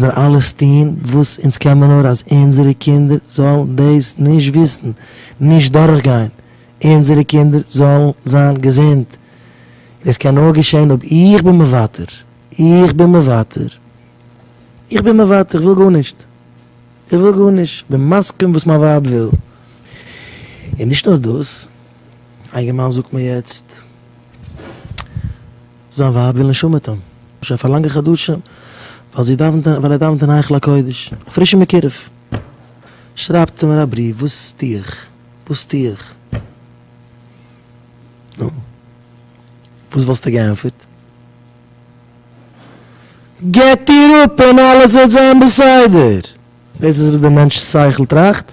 מיר אלעס טוהן וואס אונז קען מיר נאר אז אונזערע קינדער זאלן דאס נישט וויסן, נישט דורך גיין, אונזערע קינדער זאלן זיין געזונט, און עס קען נאר געשעהן אויב איך בין מוותר, איך בין מוותר, איך בין מוותר, איך וויל גארנישט, איך וויל גארנישט, איך בין מסכים וואס מיין ווייב וויל. און נישט נאר דאס, א אינגערמאן זאגט מיר יעצט. זיין ווייב וויל נישט אומעטום שוין פאר לאנגע חדשים ווייל זי דאווענט אין ווייל ער דאווענט אין היכל הקודש א פרישע מקורב שרייבט מיר א בריוו וואס טו איך וואס טו איך נו וואס וואלסטו געענטפערט געט איר אפ און אלעס וועט זיין בסדר דאס איז וואס די מענטש'ס שכל טראכט.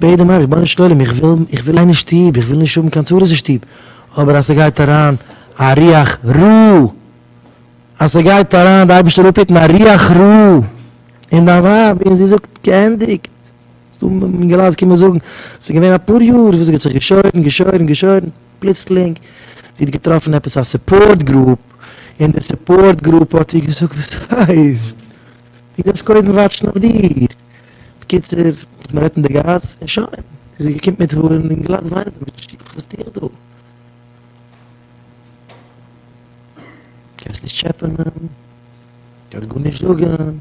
בעט דעם אייבערשטן, רבונו של עולם, איך וויל, איך וויל אין די שטוב, איך וויל נישט האבן קיין צרות אין שטוב, אבער אז ס'גייט אריין א רוח רע, אז ס'גייט אריין, די אייבערשטער זאל אפהיטן, א רוח רע אין דיין ווייב, און זי זאגט, געענדיגט, אינגעלייט קומען זאגן, ס'איז געווען אפאר יאר וואס זי האט זיך געשוירן, געשוירן, געשוירן, פלוצלינג, זי האט געטראפן עפעס א סופארט גרופ, און די סופארט גרופ האט איר געזאגט וואס ס'הייסט, דו דארפסט קודם וואטשן אויף דיר, בקיצור, מען רעדט אין די גאס, און שוין, איז זי געקומט מיט הארן און גלאט וויינען צו מוטער שילה, וואס טו איך דא? קענסט נישט טשעפענען, קענסט גארנישט זאגען,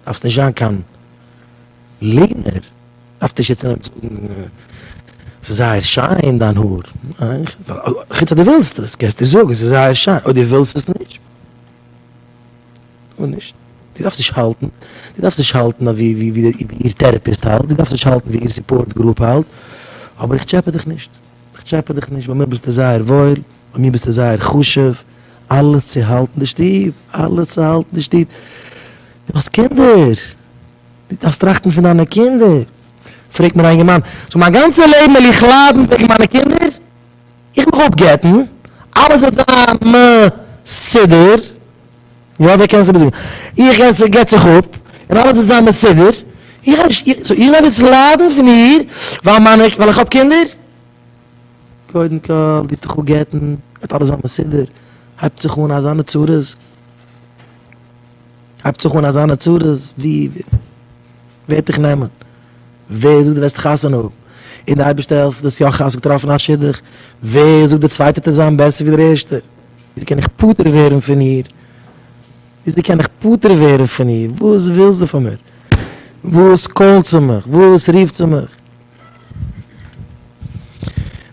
דארפסט נישט זיין קיין ליגנער, דארף נישט יעצט אנהייבן זאגען ס'איז זייער שיין דיין האר, חוץ אז דו ווילסט עס, קענסטו זאגען ס'איז זייער שיין, אויב דו ווילסט עס נישט. גארנישט. דו דארפסט נישט האלטן. דו דארפסט נישט האלטן אויף ווי איר טערעפיסט האלט. דו דארפסט נישט האלטן ווי איר סופארט גרופ האלט. אבער איך טשעפע דיך נישט. איך טשעפע דיך נישט. ביי מיר ביסטו זייער וואויל. ביי מיר ביסטו זייער חשוב. אלעס צו האלטן די שטוב. אלעס צו האלטן די שטוב. דו האסט קינדער. דו דארפסט טראכטן פון דיינע קינדער. פרעגט מיר א יונגערמאן. סאו מיין גאנצע לעבן וועל איך ליידן וועגן מיינע קינדער? איך מיך אפגט'ן. אלעס וועט זיין מסודר. יא ווער קען עס איבער זאגן? איך עס זיך געט זיך אפ און אלעס איז זיין מסודר, איך גיי נישט, סאו איך דארף יעצט ליידן פון איר ווייל מיינע, ווייל איך האב קינדער? קודם כל די האסט דיך אפ געטן, גייט אלעס זיין מסודר, הייבט זיך אן אזאנע צרות, הייבט זיך אן אזאנע צרות, ווי ווערט דיך נעמען? ווער זאגט די וועסט חתונה האבן? און די אייבערשטער העלפט די האסט יא חס געטראפן א שידוך, ווער זאגט די צווייטער טוט זיין בעסער ווי דער ערשטער? וויאזוי קען איך פטור ווערן פון איר? וויאזוי קען איך פטור ווערן פון איר? וואס וויל זי פון מיר? וואס קאלט זי מיך? וואס רופט זי מיך?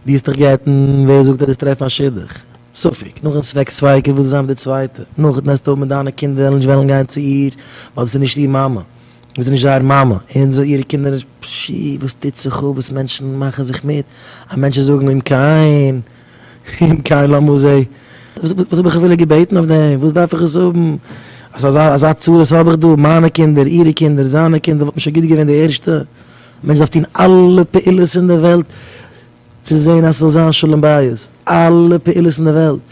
דו האסט דיך גע'טענה'ט ווער זאגט אז דו האסט טרעפן א שידוך? ספק, נאכדעם ספק ספיקא וואס איז זיין מיט די צווייטע? נאכדעם העסטו האבן מיט דיינע קינדער וועלן נישט וועלן גיין צו איר ווייל זי איז נישט איר מאמע, זי איז נישט זייער מאמע, און זיי אירע קינדער נישט, פשי וואס טוט זיך אפ וואס מענטשן מאכן זיך מיט, אז מענטשן זאגן אומקעין. אין קיין לא מוזעי. וואס האב איך אפילו געבעטן אויף דעם? וואס דארף איך עס האבן? אזא אזא צרות האב איך דא, מיינע קינדער, אירע קינדער, זיינע קינדער, וואלט נישט א גוט געווען די ערשטע? א מענטש דארף טון אלע פעולות אין דער וועלט צו זען אז ס'זאל זיין שלום בית, אלע פעולות אין דער וועלט.